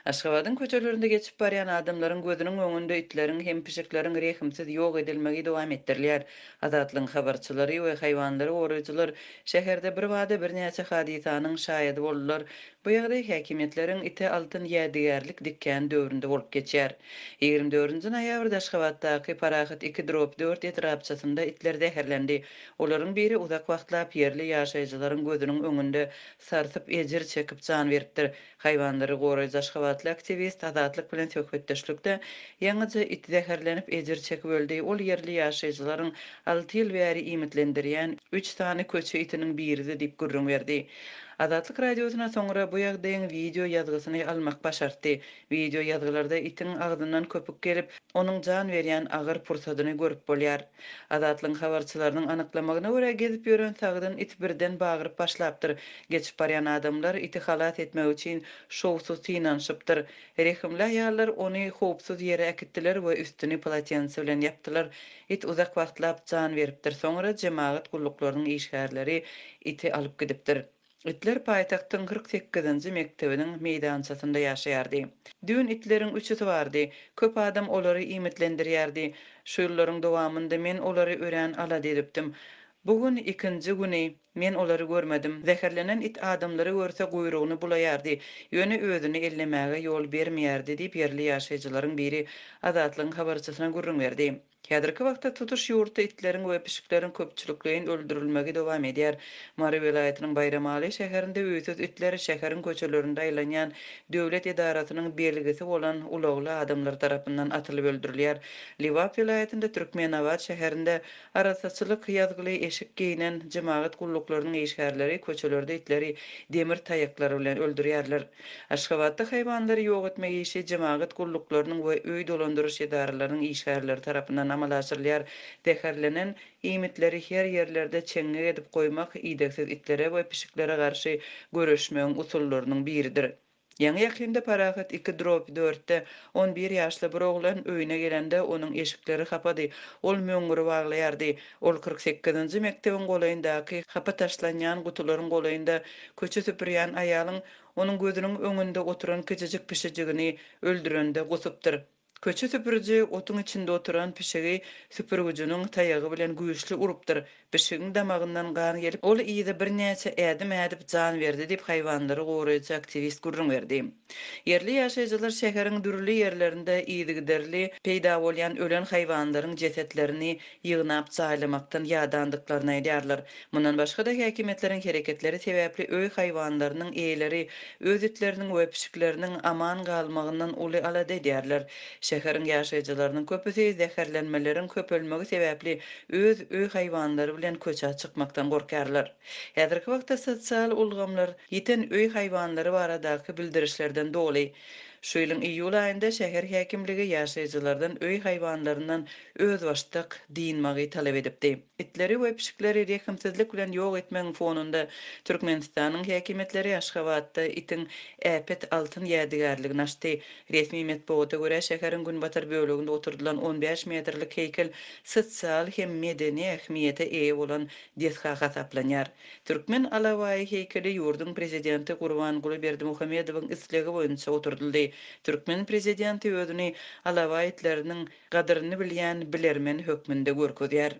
Aşgabadyň köçelerinde geçip barýan adamlaryň gözüniň öňünde itleriň hem pişikleriň rehimsiz ýok edilmegi dowam etdirilýär. Azatlygyň habarçylary we haýwanlary goraýjylar şäherde birbada birnäçe hadysanyň şaýady boldular. Bu ýagdaý häkimiýetleriň ite altyn ýädygärlik dikýän döwründe bolup geçýär. Ýigrimi dördünji noýabrda Aşgabatdaky Parahat iki drop dört etrapçasynda itler zäherlendi. Olaryň biri uzak wagtlap ýerli ýaşaýjylaryň gözüniň öňünde sartyp, ejir çekip jan beripdir. Haýwanlary goraýjy aşgabatly aktiwist Azatlyk bilen söhbetdeşlikde, Ýaňyja it zäherlenip, ejir çekip öldi. Ol ýerli ýaşaýjylaryň alty ýyl bäri iýmitlendirýän üç sany köçe itiniň biridi diýip gürrüň berdi. Azatlyk Radiosyna soňra bu ýagdaýyň wideo ýazgysyny almak başartdy. Wideo ýazgylarda itiň agzyndan köpük gelip, onuň jan berýän agyr pursadyny görüp bolýar. Azatlygyň habarçylarynyň anyklamagyna görä, gezip ýören sagdyn it birden bagyryp başlapdyr. Geçip barýan adamlar iti halas etmek üçin şowsuz synanyşypdyr. Rehimli aýallar ony howpsuz ýere äkitdiler we üstüni polotense bilen ýapdylar. It uzak wagtlap jan beripdir, soňra jemagat gulluklarynyň işgärleri iti alyp gidipdir. Itler paýtagtyň kyrk sekizinji mekdebiniň meýdançasynda ýaşaýardy. Düýn itleriň üçüsi bardy. Köp adam olary iýmitlendirýärdi. Şu ýyllaryň dowamynda men olary örän alada edipdim. Bu gün ikinji güni, men olary görmedim. Zäherlenen it adamlary görse guýrugyny bulaýardy, ýöne özüni ellemäge ýol bermeýärdi diýip ýerli ýaşaýjylaryň biri Azatlygyň habarçysyna gürrüň berdi. Häzirki wagtda tutuş ýurtda itleriň we pişikleriň köpçülikleýin öldürilmegi dowam edýär. Mary welaýatynyň Baýramaly şäherinde öýsüz itler şäheriň köçelerinde aýlanýan döwlet edarasynyň belgisi bolan ulagly adamlar tarapyndan atylyp öldürilýär. Lebap welaýatynda Türkmenabat şäherinde arassaçylyk ýazgyly eşik geýnen jemagat gulluklarynyň işgärleri köçelerde itleri demir taýaklar bilen öldürýärler. Aşgabatda haýwanlary ýok etmek işi jemagat gulluklarynyň we öý dolandyryş edaralarynyň işgärleri tarapyndan amala aşyrylýar. Zäherlenen iýmitleri her ýerlerde çeňňek edip goýmak idegsiz itlere we pişiklere garşy göreşmegiň usullarynyň biridir. Ýaňy-ýakynda Parahat iki drop dörtde on bir ýaşly bir oglan öýüne gelende, onuň eşikleri hapady, ol möňňüri waglaýardy. Ol kyrk sekizinji mekdebiň golaýyndaky hapa taşlanýan gutularyň golaýynda köçe süpürýän aýalyň onuň gözüniň öňünde oturan kiçijik pişijigini öldürende gusupdyr. Köçe süpüriji otuň içinde oturan pişigi süpürgüjiniň taýagy bilen güýçli urupdyr, pişigiň damagyndan gan gelip, ol yza birnäçe ädim ädip jan berdi diýip, haýwanlary goraýjy aktiwist gürrüň berdi. Ýerli ýaşaýjylar şäheriň dürli ýerlerinde yzygiderli peýda bolýan ölen haýwanlaryň jesetlerini ýygnap jaýlamakdan ýadandyklaryny aýdýarlar. Mundan başga-da, häkimiýetleriň hereketleri sebäpli öý haýwanlarynyň eýeleri öz itleriniň we pişikleriniň aman galmagyndan uly alada edýärler. Şäheriň ýaşaýjylarynyň köpüsi zäherlenmeleriň köpelmegi sebäpli öz öý haýwanlary bilen köçä çykmakdan gorkýarlar. Häzirki wagtda sosial ulgamlar. Ýiten öý haýwanlary baradaky bildirişlerden doly, şu ýylyň iýul aýynda şäher häkimligi ýaşaýjylardan öý haýwanlaryndan özbaşdak dynmagy talap edipdi. Itleri we pişikleri rehimsizlik bilen ýok etmegiň fonunda Türkmenistanyň häkimiýetleri Aşgabatda itiň äpet altyn ýädygärligini açdy. Resmi metbugata görä, şäheriň günbatar böleginde oturdylan on bäş metrlik heýkel sosial hem medeni ähmiýete eýe bolan desga hasaplanýar. Türkmen alabaýy heýkeli ýurduň Prezidenti Gurbanguly Berdimuhamedowyň islegi boýunça oturdyldy. Türkmen Prezidenti özüni alabaý itleriniň gadyryny bilýän bilermen hökmünde görkezýär.